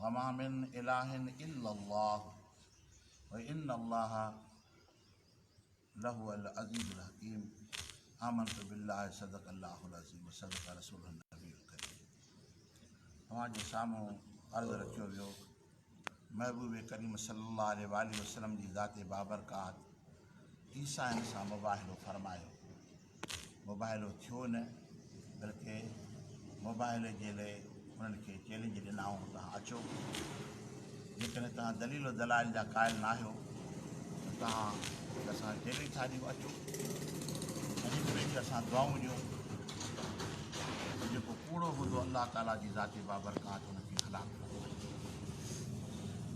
وما من اله الا الله وان الله لهو العزيز الحڪيم آمنت بالله صدق الله العظيم صدق رسول النبي الكريم اوهان جي سامهون عرض رکيو ويو محبوب ڪريم صلي الله عليه وسلم جي ذات بابرڪات عيسائين سان مباهلو فرمايو. مباهلو ٿيو نه بلڪ مباهلي جي لئه انهن کي چئلينج ڏنائون ته اچو جيڪڏهن توهان دليل و دلائل جا قائل ناهيو ته توهان هڪ اسان کي چئلينج ٿا ڏيو اچو ۽ هڪ ٻئي کي اسان دعائون ڏيون ته جيڪو ڪوڙو هوندو الله تعالي جي ذات بابرڪات ان کي هلاڪ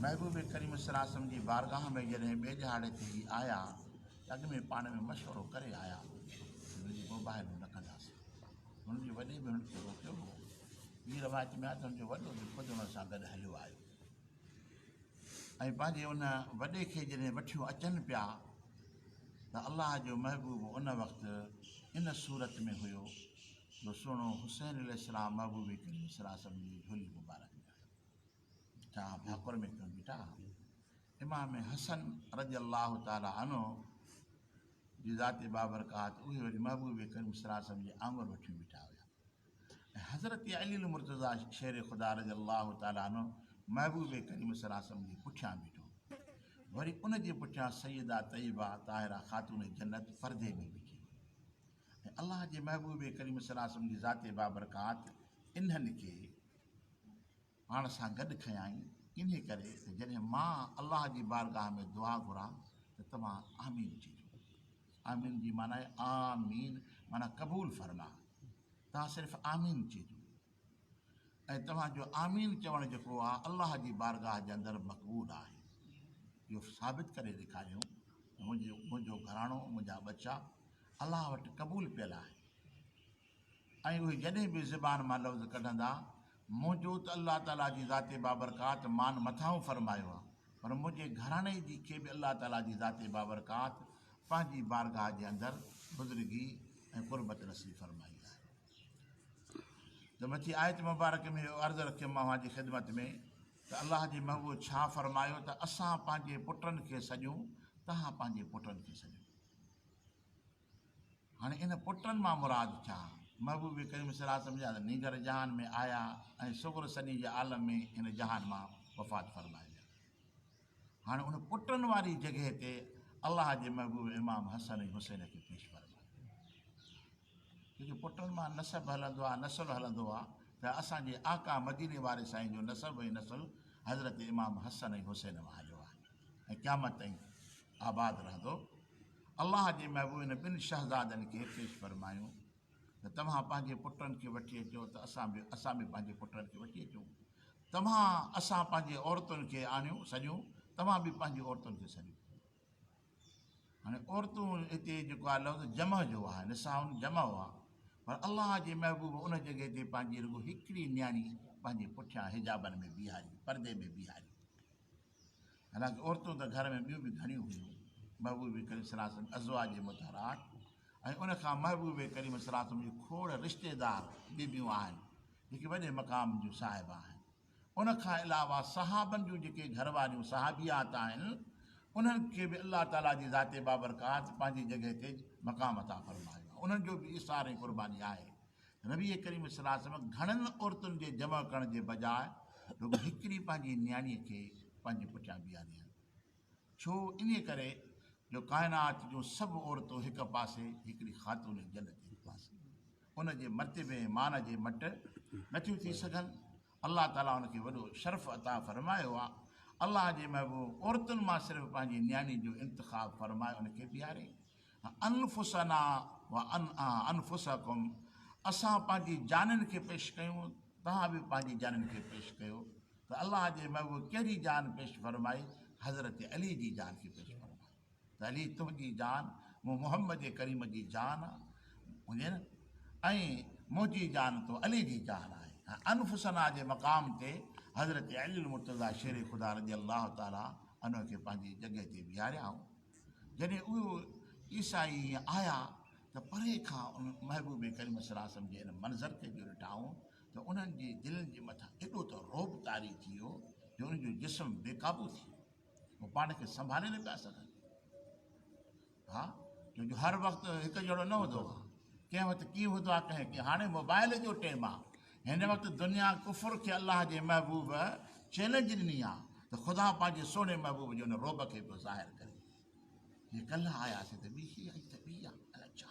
محبوب ڪريم صلّي الله عليه وسلّم جي بارگاھ ۾ جڏهن ٻئي ڏهاڙي تي هي آيا ته اڳ ۾ پاڻ ۾ مشورو ڪري آيا ته هن جي مباهلو نه ڪنداسين. هن جي وڏي به هن کي روڪيو هو. ٻي روايت ۾ آهي ته هن جو وڏو به خود هن سان گڏ هليو آيو ۽ پنهنجي ان وڏي کي جڏهن وٺيون اچن پيا ته الله جو محبوب ان وقت ان صورت ۾ هيو جو سهڻو حسين عليه السلام محبوبي ڪري وسرا سڀ جي جھولي مبارڪ ڏيڻ لڳو ڇا آء ڀاڪر ۾ ڪيون بيٺا امام حسن رضي الله تعالٰي عنه جي ذات بابرڪات اهي وري محبوبي ڪري وسرا سڀ جي آڱر وٺيون بيٺا هيا حضرت علي المرتضا شير خدا رضي الله تعالٰي عنه محبوب ڪريم صلي الله عليه وسلم جي پٺيان بيٺو وري ان جي پٺيان سيده طيبه طاهره خاتون جنت پردي ۾ بيٺي ۽ الله جي محبوب ڪريم صلّي الله عليه وسلّم جي ذات بابرڪات انهن کي پاڻ سان گڏ کنيائين، انهيء ڪري ته جڏهن مان الله جي بارگاهه ۾ دعا گهران ته توهان آمين چئجو. آمين جي معنيٰ آمين معنيٰ قبول فرما. توهان صرف آمين چئجو. ۽ توهان جو آمين چوڻ جيڪو آ الله جي بارگاھ جي اندر مقبول آهي اهو ثابت ڪري ڏيکاريو ته منهنجو گهراڻو منهنجا ٻچا الله وٽ قبول پيل آهن ۽ اهي جڏهن به زبان مان لفظ ڪڍندا منهنجو ته الله تعالي جي ذات بابرڪات مان مٿاهون فرمايو آ پر منهنجي گهراڻي جي کي به الله تعالي جي ذات بابرڪات پنهنجي بارگاھ جي اندر بزرگي ۽ قربت نصيب فرمائي آهي ته مٿي آيت مبارڪ ۾ اهو عرض رکيم مان اوهان جي خدمت ۾ ته الله جي محبوب ڇا فرمايو ته اسان پنهنجي پٽن کي سڏيون تهان پنهنجي پٽن کي سڏيو هاڻي ان پٽن مان مراد ڇا محبوب ڪريم صلي الله سمجھا ته نينگر جهان ۾ آيا ۽ صغر سني جي عالم ۾ هن جهان مان وفات فرمائي ويا هاڻي ان پٽن واري جڳهه تي الله جي محبوب امام حسن ۽ حسين کي پيش فرمايو ڇوجو پٽن مان نسب هلندو آ نسل هلندو آ ته اسان جي آقا مديني واري سائين جو نسب ۽ نسل حضرت امام حسن ۽ حسين مان هليو آ ۽ قيامت تائين آباد رهندو الله جي محبوب هن ٻن شهزادن کي پيش فرمايون ته توهان پنهنجي پٽن کي وٺي اچو ته اسان به اسان به پنهنجي پٽن کي وٺي اچون توهان اسان پنهنجي عورتن کي آڻيون سڏيون توهان به پنهنجي عورتن کي سڏيو هاڻي عورتون هتي جيڪو آهي لفظ جمع جو آهي نساء جمع هئا پر الله جي محبوب ان جڳهه تي پنهنجي رڳو هڪڙي نياڻي پنهنجي پٺيان حجابن ۾ بيهاري پردي ۾ بيهاري حالانڪه عورتون ته گهر ۾ ٻيون به گهڻيون هيون محبوب کريم سلاسم ازوا جي متحرات ۽ ان کان محبوب کريم سلاسم جي کوڙ رشتيدار بيبيون آهن جيڪي وڏي مقام جون صاحب آهن ان کان علاوه صحابن جون جيڪي گهر واريون صحابيات آهن انهن کي به الله تعالي جي ذات بابرڪات پنهنجي جڳهه تي مقام عطا فرمايو آهي انهن جو به ايثار ۽ قرباني آهي نبي ڪريم صلي الله عليه وسلم گهڻن عورتن جي جمع ڪرڻ جي بجاء رڳو هڪڙي پنهنجي نياڻي کي پنهنجي پٺيان بيهاريائين ڇو انهيء ڪري جو ڪائنات جون سڀ عورتون هڪ پاسي، هڪڙي خاتون جنت هڪ پاسي ان جي مرتبي ۽ مان جي مٽ نه ٿيون ٿي سگهن. الله تعاليٰ ان کي وڏو شرف عطا فرمايو آهي. الله جي محبوب عورتن مان صرف پنهنجي نياڻي جو انتخاب فرمائي ان کي پياري. انفسنا و انفسکم اسان پنهنجي جانن کي پيش ڪيون تهان به پنهنجي جانن کي پيش ڪيو. ته الله جي محبوب ڪهڙي جان پيش فرمائي حضرت علي جي جان کي پيش فرمائي ته علي تنهنجي جان مون محمد ڪريم جي جان آ هجي نه ۽ منهنجي جان تو علي جي جان آهي انفسنا جي مقام تي حضرت علي المرتضيٰ شير خدا رضي الله تعالٰي عنه کي پنهنجي جڳهه تي بيهاريائون جڏهن اهو عيسائي آيا ته پري کان ان محبوب ڪريم صلي الله عليه وسلم جي ان منظر کي جو ڏٺائون ته انهن جي دلين جي مٿان ايڏو ته رعب طاري ٿي ويو جو انهن جو جسم بي قابو ٿي ويو. هو پاڻ کي سنڀالي نه پيا سگهن ها ڇو جو هر وقت هڪ جهڙو نه هوندو آهي. ڪنهن وقت ڪيئن هوندو آهي ڪنهن ڪيئن. هاڻي موبائل جو ٽيم آهي. هن وقت دنيا ڪفر کي الله جي محبوب چئلينج ڏني آهي ته خدا پنهنجي سهڻي محبوب جي ان رعب کي پيو ظاهر ڪري. جي ڪلهه آياسين ته ٻيهي آئي ته ٻي آ. الاء ڇا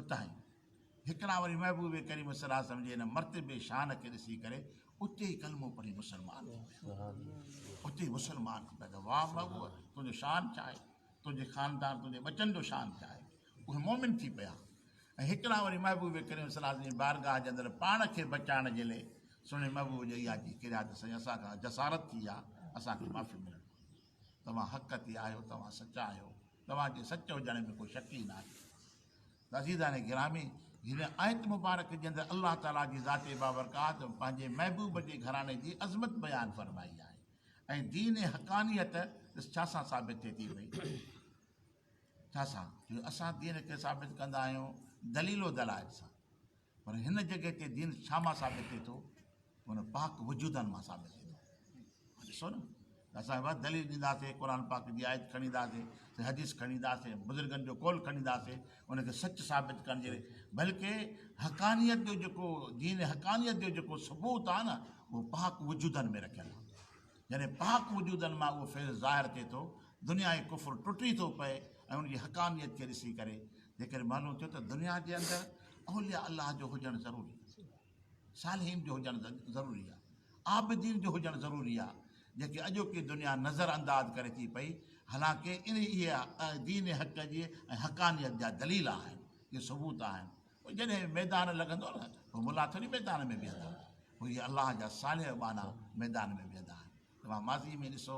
اتاهين هڪڙا وري محبوب ڪريم صلي الله عليه وسلم جي ان مرتبي شان کي ڏسي ڪري اتي ئي ڪلمو پڙهي مسلمان ٿي ويا اتي ئي مسلمان ٿي پيا واهه محبوب تنهنجو شان ڇا آهي تنهنجي خاندان تنهنجي ٻچن جو شان ڇا آهي اهي مومن ٿي پيا ۽ هڪڙا وري محبوب ڪريم صلي الله عليه وسلم بارگاهه جي اندر پاڻ کي بچائڻ جي لئي سهڻي محبوب جي اها جي ڪريا ته سائين اسان کان جسارت ٿي ويا اسان کي معافي ملڻ توهان حق تي آهيو، توهان سچا آهيو، توهان جي سچ هجڻ ۾ ڪو شڪ ئي ناهي. ته عزيزان گرامي! هن آيت مبارڪ جي اندر الله تعاليٰ جي ذات بابرڪات پنهنجي محبوب جي گهراڻي جي عظمت بيان فرمائي آهي ۽ دين حقانيت ڏس ڇا سان ثابت ٿئي ٿي پئي؟ ڇا سان؟ جو اسان دين کي ثابت ڪندا آهيون دليل و دلائل سان. پر هن جڳهه تي دين ڇا مان ثابت ٿئي ٿو؟ هن پاڪ وجودن مان ثابت ٿئي ٿو. ڏسو نه اسان بس دليل ڏينداسين قرآن پاڪ جي آيت کڻي اينداسين حديث کڻي اينداسين بزرگن جو قول کڻي اينداسين ان کي سچ ثابت ڪرڻ جي بلڪه حقانيت جو جيڪو دين حقانيت جو جيڪو ثبوت آهي نه اهو پاڪ وجودن ۾ رکيل آهي جڏهن پاڪ وجودن مان اهو فيض ظاهر ٿئي ٿو، دنيا ۽ ڪفر ٽٽي ٿو پئي ۽ ان جي حقانيت کي ڏسي ڪري جيڪڏهن معلوم ٿيو ته دنيا جي اندر اولياء الله جو هجڻ ضروري آهي، صالحين جو هجڻ ضروري آهي، عابدين جو هجڻ ضروري آهي، جيڪي اڄوڪي دنيا نظر انداز ڪري ٿي پئي، حالانڪه اهي دين حق جي ۽ حقانيت جا دليل آهن، اهي ثبوت آهن، پوء جڏهن ميدان لڳندو نه پوء ملا ٿوري ميدان ۾ بيهندا، پوء اهي الله جا صالح ٻانها ميدان ۾ بيهندا آهن. توهان ماضيء ۾ ڏسو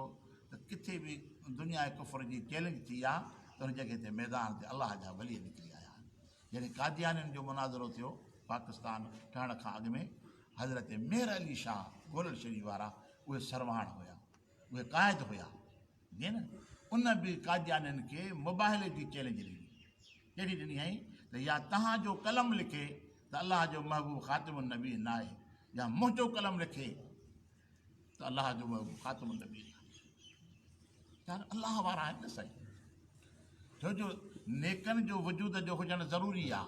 ته ڪٿي به دنيا ڪفر جي چئلينج ٿي آ ته ان جڳهه تي ميدان تي الله جا ولي نڪري آيا آهن. جڏهن قاديانين جو مناظرو ٿيو پاڪستان ٺهڻ کان اڳ ۾ حضرت مير علي شاهه گولڙ شريف وارا اهي سرواڻ هيا، اهي قائد هيا. جنھن ان به قاديانين کي مباهلي جي چئلينج ڏني. ڪهڙي ڏني هئائين ته يا تنھان جو قلم لکي ته الله جو محبوب خاتم النبين ناهي يا منھنجو قلم لکي ته الله جو محبوب خاتم النبين ناهي. چيائين الله وارا آهن نه سائين. ڇو جو نيڪن جو وجود جو هجڻ ضروري آ.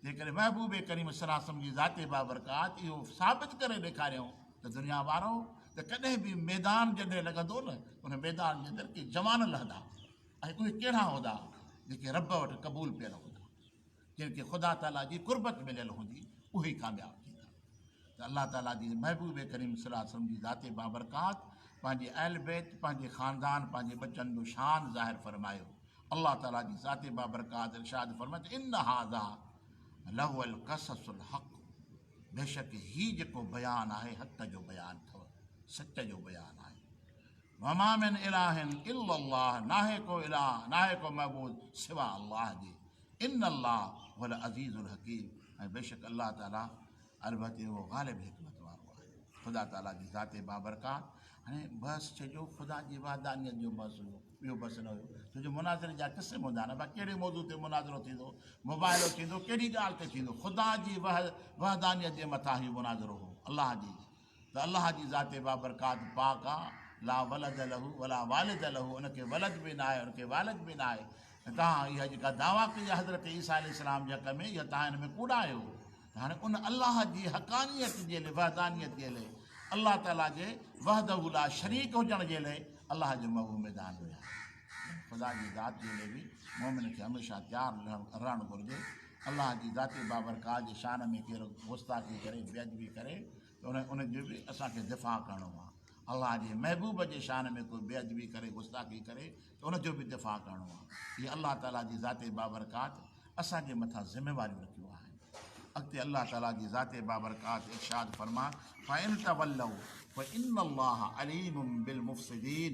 جيڪڏهن محبوب ڪريم صلّي الله عليه وسلّم جي ذات بابرڪات اهو ثابت ڪري ڏيکاريائون ته دنيا وارؤ ته ڪڏهن به ميدان جڏهن لڳندو نه ان ميدان جي اندر ڪي جوان لهندا ۽ اهي ڪهڙا هوندا جيڪي ربّ وٽ قبول پيل هوندا. جن کي خدا تعاليٰ جي قربت مليل هوندي اهي ئي ڪامياب ٿيندا ته الله تعاليٰ جي محبوب ڪريم صلي الله عليه وسلم جي ذات بابرڪات پنهنجي اهل بيت پنهنجي خاندان پنهنجي ٻچن جو شان ظاهر فرمايو الله تعاليٰ جي ذات بابرڪات ارشاد فرمائي ته ان هذا لهو القصص الحق بيشڪ هي جيڪو بيان آهي حق جو بيان اٿو سچ جو بيان آهي وما من الٰهن الا الله ناهي ڪو الٰه ناهي ڪو معبود سوا الله جي ان الله هو العزيز الحڪيم ۽ بيشڪ الله تعالي البته اهو غالب حڪمت وارو آهي. خدا تعالي جي ذات بابرڪات هاڻي بحث چئجو خدا جي وحدانيت جو بحث هيو ٻيو بحث نه هيو ڇو جو مناظري جا قسم هوندا آهن بس ڪهڙي موضوع تي مناظرو ٿيندو مباحلو ٿيندو ڪهڙي ڳالهه تي ٿيندو خدا جي وحدانيت جي مٿان هيو مناظرو هو الله جي ته الله جي ذات بابرڪات پاڪ آ، لا ولد له ولا والد له، ان کي ولد به ناهي ان کي والد به ناهي، ۽ توهان اها جيڪا دعويٰ ڪئي آ حضرت عيسيٰ عليه السلام جي حق ۾ اها توهان ان ۾ ڪوڙا آهيو، ته هاڻي ان الله جي حقانيت جي لئه وحدانيت جي لئه الله تعاليٰ جي وحده لا شريڪ هجڻ جي لئه الله جي مئو ميدان رهيا آهن، خدا جي ذات جي لئه به مؤمن کي هميشه تيار رهڻ گهرجي. الله جي ذات بابرڪات جي شان ۾ ڪير گستاخي ڪري، بي ادبي ڪري ته ان جو به اسان کي دفاع ڪرڻو آهي. الله جي محبوب جي شان ۾ ڪو بي ادبي ڪري، گستاخي ڪري ته ان جو به دفاع ڪرڻو آهي. هي الله تعاليٰ جي ذات بابرڪات اسان جي مٿان ذميواريون رکيون آهن. اڳتي الله تعاليٰ جي ذات بابرڪات ارشاد فرمائي فإن تولوا فإن الله عليم بالمفسدين.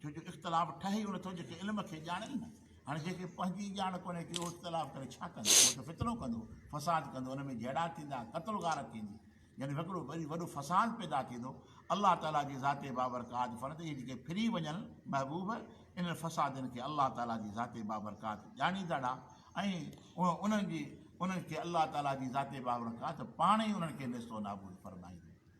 ڇو جو اختلاف ٺهي ئي ان ٿو جيڪي علم کي ڄاڻي ئي نه. هاڻي جنهن کي پنهنجي ئي ڄاڻ ڪونهي ٿي اهو اختلاف ڪري ڇا ڪندو؟ اهو ته فتنو ڪندو، فساد ڪندو، ان ۾ جهيڙا ٿيندا، قتل و غارت ٿيندي. يعني هڪڙو وري وڏو فساد پيدا ٿيندو. الله تعاليٰ جي ذات بابرڪات فرمائي ٿو اهي جيڪي ڦري وڃن، محبوب! انهن فسادين کي الله تعاليٰ جي ذات بابرڪات ڄاڻيندڙا ۽ انهن جي انهن کي الله تعاليٰ جي ذات بابرڪات پاڻ ئي انهن کي نيست و نابود فرمائيندي.